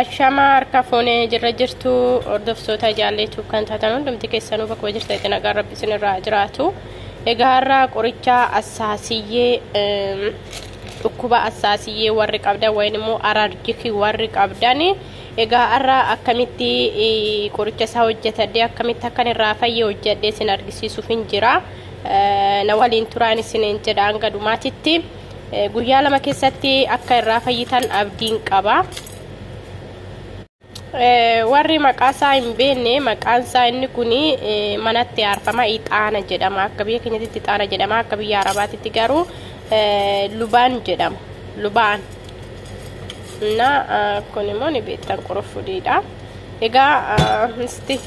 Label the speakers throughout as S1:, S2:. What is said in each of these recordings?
S1: Ashamaa harka fuunee jirra jirtu hordoftoota jaalleetuuf kan taatan hundumti keessanuu bakkuma jirtanitti nagaan rabbi isinirraa jiraatu. Egaa har'a qoricha assaasiyyee dhukkuba assaasiyyee warri qabdan wayin immoo araarjikii warri qabdan egaa har'a akkamitti qoricha isaa hojjetadhee akkamitti akkan irraa fayye hojjedhee isin argisiisuuf hin jira. Na waliin turaan isiniin jedha hanga dhumaatitti. Guyyaa lama keessatti akka irraa fayyitan abdiin qaba. Warri maqaa isaa hin beekne maqaan isaa inni kun manatti aarfama ixaana jedhama. Akka biyya keenyatti ixaana jedhama. Akka biyya Arabaatitti garuu lubaan jedhama. Lubaan. Na kun immoo ni beektan qurufuudhiidha. Egaa isti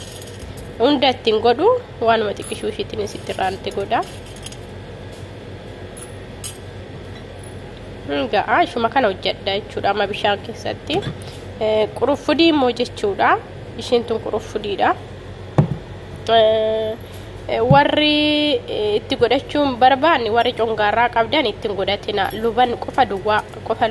S1: hunda ittiin godhu waanuma xiqqishuu ishiitiin itti irraanti godha. Egaa ishuma kana hojjedha jechuudha amma bishaan keessatti. Quruffudii immoo jechuudha. Ishiin tun quruffudiidha. Warri itti godhachuun barbaanne warri congaarraa qabdan ittiin godhatina. Luban qofa duwwaa qofa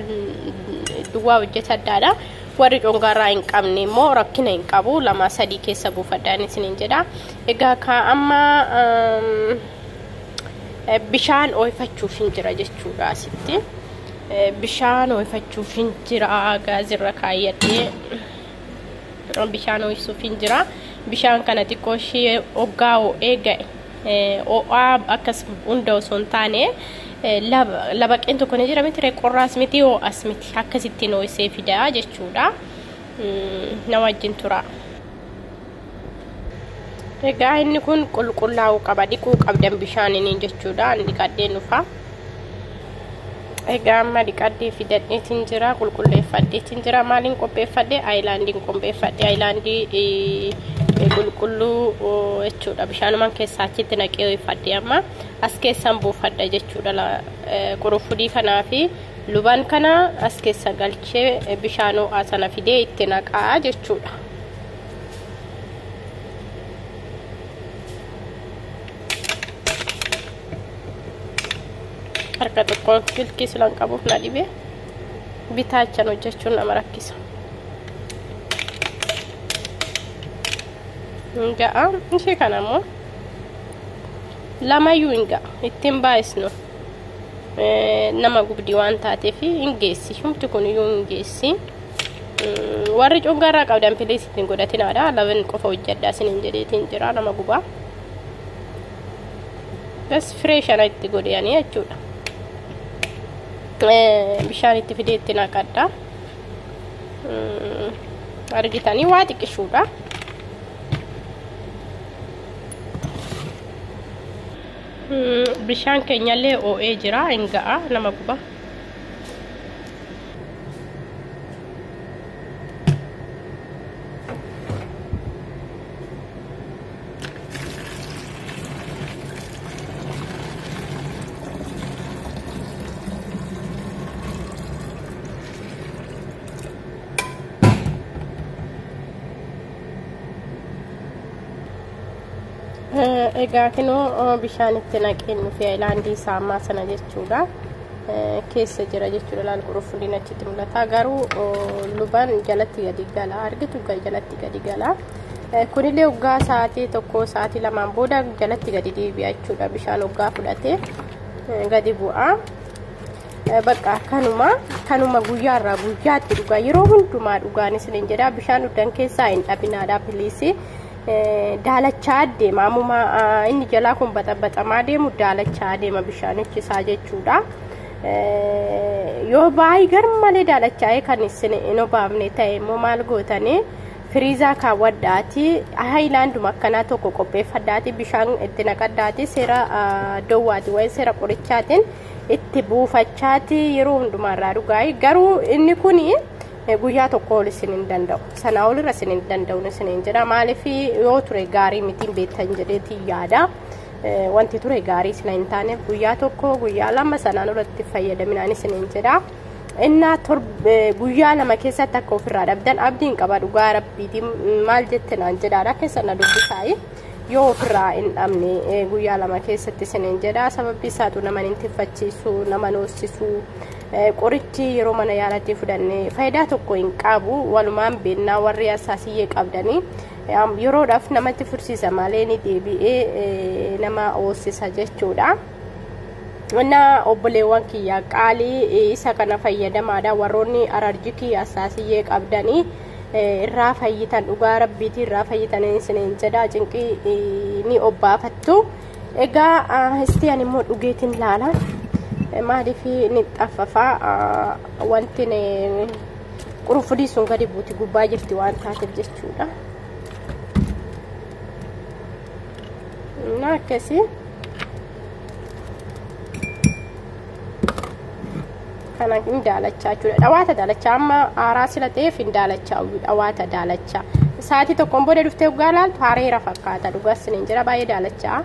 S1: duwwaa hojjeta addaadha. Warri congaarraa hin qabne immoo rakkina hin qabu. Lama sadii keessa buufadhaan isiniin jedha. Egaa kaa amma bishaan oofachuuf hin jira jechuudha asitti bishaan oofachuuf hin jira gaazirra kaayyadhee bishaan ooyisuuf hin jira bishaan kana xiqqoo ishee oggaa oo'ee ga'e oo'aa akkas hunda osoo hin taane labaqeen tokko ni jira miti qorraas miti oo'as miti akkasittiin ooyisee fidaa jechuudha na wajjin tura. Egaa inni kun qulqullaa'uu qaba dhiquu qabdan bishaaniin jechuudha an dhiqadhee dhufa. Egaa amma dhiqadhee fidadheetiin jira qulqulleeffadheetiin jira maaliin qopheeffadhe ayilaandiin qopheeffadhe ayilaandii qulqulluu jechuudha bishaanumaan keessaa achitti naqee ho'ifadhe amma as keessaan buufadha jechuudha qurufudii kanaa fi Lubaan kana as keessa galchee bishaan ho'aa sana fidee itti naqaa jechuudha. Harka tokkoon silkii silan qabuuf na dhibe bitaachan hojjechuun nama rakkisa. Hin ga'a ishee kana immoo lamayyuu hin ga'a ittiin baay'isnu. nama gubdi waan taateef hin geessi humti kun iyyuu hin geessi warri cungaarraa qabdan piliis ittiin godhatinaadha laban qofa hojjadhaa sinin jedheetiin jira nama gubaa bas firee shana itti godhiyanii jechuudha bishaan itti fidee itti naqadha argitanii waa xiqqishuudha Bishaan keenyallee oo'ee jira hin ga'a nama guba. Egaa kinoo bishaan itti naqeen nufi ayilaandii isaa ammaa sana jechuudha. Keessa jira jechuudha laal quruffuliin achitti mul'ata. Garuu lubaan jalatti gadi gala argitu jalatti gadi gala. Kunillee waggaa sa'aatii tokko sa'aatii lamaan booda jalatti gadi deebi'a jechuudha bishaan waggaa fudhatee gadi bu'a. Bakka kanuma kanuma guyyaarraa guyyaatti dhugaa yeroo hundumaa dhugaan isiniin jedha bishaan dhugdan keessaa hin dhabinaadha biliisii. daalachaa deema ammuma inni jalaa kun baxabaxamaa deemu daalachaa deema bishaanichi isaa jechuudha. Yoo baay'ee garmalee daalachaa'ee kan isin hin obaafne ta'e immoo maal gootanii firiizaa kaawwadhaati haayilaanduma akkanaa tokko qopheeffadhaati bishaan itti naqadhaati seera dowwaati waa'ee seera qorichaatiin itti buufachaati yeroo hundumaarraa dhugaa'e garuu inni kuni Guyyaa tokko ol isin hin danda'u. Sanaa ol irra isin hin danda'u isin hin jedha. Maaliif yoo ture gaarii mitiin beektan jedheetiin yaada. Wanti ture gaarii isin hin taaneef guyyaa tokko guyyaa lama sanaan olitti fayyadaminaan isin hin jedha. Innaa guyyaa lama keessatti akka ofirraa dhabdan abdiin qaba dhugaa rabbiitiin maal jette naan jedhaadha keessa na dubbisaayi. yoo ofirraa hin dhabne guyyaa lama keessatti isiniin jedha sababbi isaatu nama hin tiffachiisu nama hin hoosisu Qorichi yeroo mana yaalatti fudhanne faayidaa tokko hin qabu walumaan beennaa warri hasaasiyyee qabdanii yeroodhaaf namatti fursiisa malee ni deebi'ee nama hoossisa jechuudha. Wanna obboleewwan kiyya qaalii isa kana fayyadamaadha warroonni alarjikii hasaasiyyee qabdanii irraa fayyitan dhugaa rabbiitii irraa fayyitan isiniin jedha cinqii ni obbaafattu. Egaa istii ani immoo dhugeetiin laala. Maaliif ni xaffafaa wanti qurunfudii sun gadi buuti gubbaa jirti waan taateef jechuudha. Innaa akkasii. kana hin daalachaa jechuudha dhawaata daalachaa amma aaraa sila ta'eef hin daalachaa uyyuu dhawaata daalachaa sa'aatii tokkoon booda dhuftee dhugaa laaltu haareera fakkaata dhugaa sinin jira baay'ee daalachaa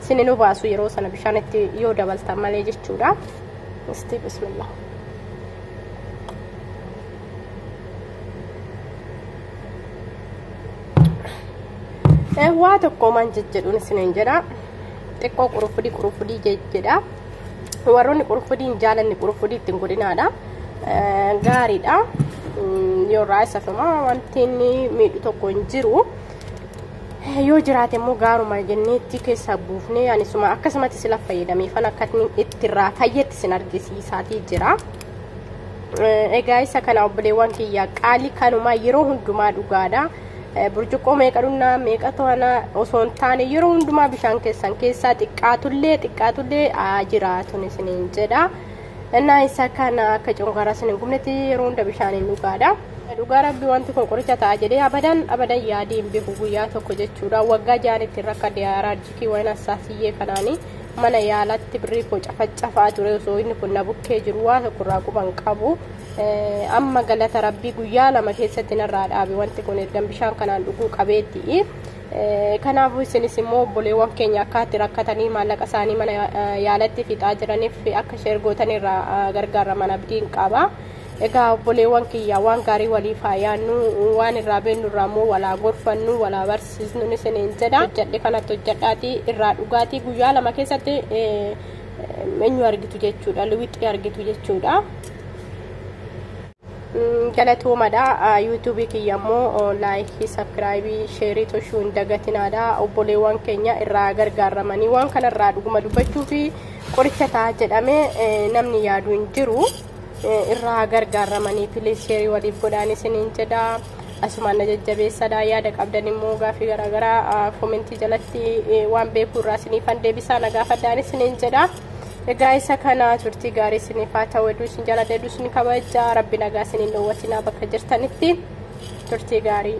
S1: sinin obaasu yeroo sana bishaan itti yoo dabaltan malee jechuudha isti bismillah waa tokko man jejjedhuun isinin jedha xiqqoo qurufudii qurufudii jejjedha Warroonni qurufudii hin jaalanne qurufudii ittiin godhinaadha. Gaariidha. Yoo irraa isafamaa wanti inni miidhu tokko hin jiru. Yoo jiraate immoo gaaruma jenneetti keessaa buufnee anisuma akkasumatti sila fayyadamee fan akka itti irraa fayyetti sin argisiisaatii jira. Egaa isa kana obboleewwan kiyya qaalii kanuma yeroo hundumaa dhugaadha. burcuqqoo meeqa dhugnaa meeqa to'anaa osoo hin taane yeroo hundumaa bishaan keessan keessaa xiqqaatullee xiqqaatullee haa jiraatun isiniin jedha. Innaa isa kana akka cunqaraa isin hin gubnetti yeroo hunda bishaaniin dhugaadha. Dhugaa rabbi wanti kun qoricha ta'a jedhee abadan abadan yaadii hin beeku guyyaa tokko jechuudha. Waggaa ja'an ittiin rakkadhe araarjikii waan assaasiyyee kanaanii mana yaalatti birrii koo cafacafaa ture osoo inni kun na bukkee jiru waa tokkorraa quban qabu. Amma galata rabbii guyyaa lama keessatti narraa dhaabe wanti kun ergan bishaan kanaan dhuguu qabeetti. Kanaafuu isinis immoo obboleewwan keenya akkaatti rakkatanii maallaqa isaanii mana yaalatti fixaa jiraniif akka sheer gootan irraa gargaaraman abdiin qaba. Egaa obboleewwan kiyya waan gaarii waliif haa yaannu waan irraa beennu irraa immoo walaa gorfannu walaa barsiisnu isiniin jedha. Hojjadhe kanatti hojjadhaati irraa dhugaatii guyyaa lama keessatti eenyu argitu jechuudha liwixii argitu jechuudha galatoomadha yuutuubii kiyya immoo laayikii sabskiraayibii sheerii toshuu hin dagatinaadha obboleewwan keenya irraa gargaaramanii waan kanarraa dhuguma dubbachuu fi qoricha ta'a jedhamee namni yaadu hin jiru irraa gargaaramanii piliis sheerii waliif godhaan isiniin jedha Asumaan na jajjabeessadha. Yaada qabdan immoo gaaffii garaagaraa komentii jalatti waan beeku irraa isiniifan deebisaa na gaafadhaan isiniin jedha. Egaa isa kana turtii gaarii isiniif haa ta'u hedduu isin jaalladha hedduu isin kabaja rabbi nagaa isiniin dhoowwatinaa bakka jirtanitti turtii gaarii.